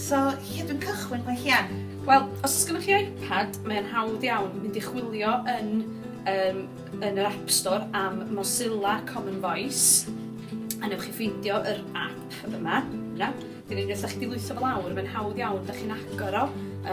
So, lle dwi'n cychwyn mae Hian? Wel, os oes gennych chi iPad, mae'n hawdd iawn mynd i chwilio yn, um, yn yr App Store am Mozilla Common Voice, a newch chi ffeindio yr app yma, yna. Dyn ni'n gwneud chi lwytho fel awr, mae'n hawdd iawn, da chi'n agor o,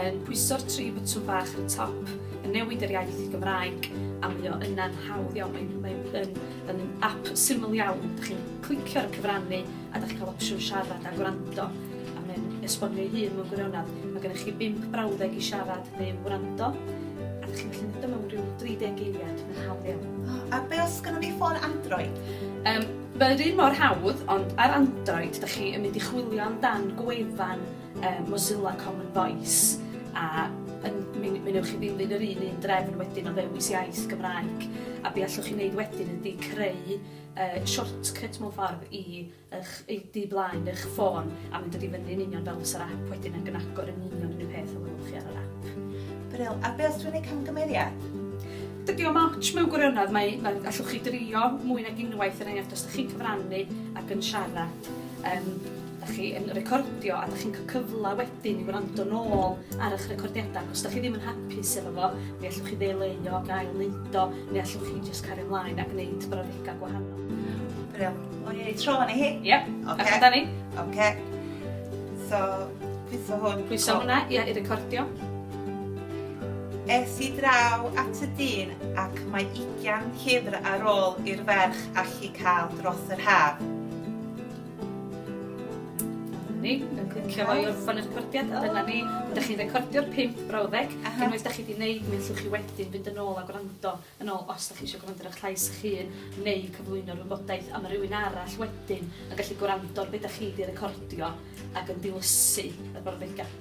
yn pwyso'r tri bwtwn bach yn y top, yn newid yr iaith i Gymraeg, a mae o yna'n hawdd iawn, mae'n mae Mae'n ap syml iawn, dach chi'n clicio ar y cyfrannu a dach chi'n cael opsiwn siarad a gwrando a mae'n esbonio ei hun mewn gwirionedd. Mae gennych chi bump brawddeg i siarad neu wrando a dach chi'n gallu neud o mewn rhyw 30 geiriad, mae'n hawdd iawn. O, a be' os gynnon ni ffôn Android? Yym, mae yr un mor hawdd ond ar Android dach chi yn mynd i chwilio amdan gwefan Yym Mozilla Common Voice a yn mi mi newch chi ddilyn yr un un drefn wedyn o ddewis iaith Gymraeg a be' allwch chi neud wedyn ydi creu yy shortcut mewn ffordd i 'ych i du blaen y'ch ffôn a ma'n dod i fyny yn union fel fysa'r ap wedyn ag yn agor yn union yr un peth a welwch chi ar yr ap. Brill, a be' os dwi'n neud camgymeriad? Dydi o'm otsh mewn gwirionedd mae mae allwch chi drio mwy nag unwaith er enghraifft os 'dych chi'n cyfrannu ag yn siarad yym Dach chi yn recordio a dach chi'n cael cyfle wedyn i wrando nôl ar eich recordiadau. Os dach chi ddim yn hapus efo fo, mi allwch chi ddeileuo ac ail wneud o, neu allwch chi jyst cario mlaen a gwneud brawddegau gwahanol. Brill. Wn i tro hwn i hi? Ie. Ocê. Ewch amdani. Ocê. So, pwyso hwn. Pwyso hwnna, ie, i recordio. Es i draw at y dyn ac mae ugian llyfr ar ôl i'r ferch allu cael dros yr haf. ni yn clicio fo i orffan y recordiad a dyna ni. Dych chi'n recordio'r pump brawddeg. Aha. Unwaith dych chi wedi wneud mi allwch chi wedyn fynd yn ôl a gwrando yn ôl os dych chi eisiau gwrando ar eich llais eich hun neu cyflwyno'r wybodaeth a mae rhywun arall wedyn yn gallu gwrando ar beth dych chi wedi recordio ac yn dilysu y brawddegau.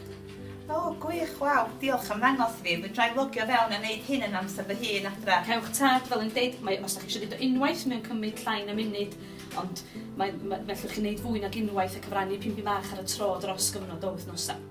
O, oh, gwych, waw, diolch am ddangos fi. Dwi'n rhaid logio fewn a wneud hyn yn amser fy hun adra. Cewch tad, fel yn deud, mae, os ydych chi eisiau dweud o unwaith, mae'n cymryd llai na munud Ond mae, mae, mae allwch chi wneud fwy nag unwaith a cyfrannu pingbi bach ar y tro dros gyfnod o wythnosau.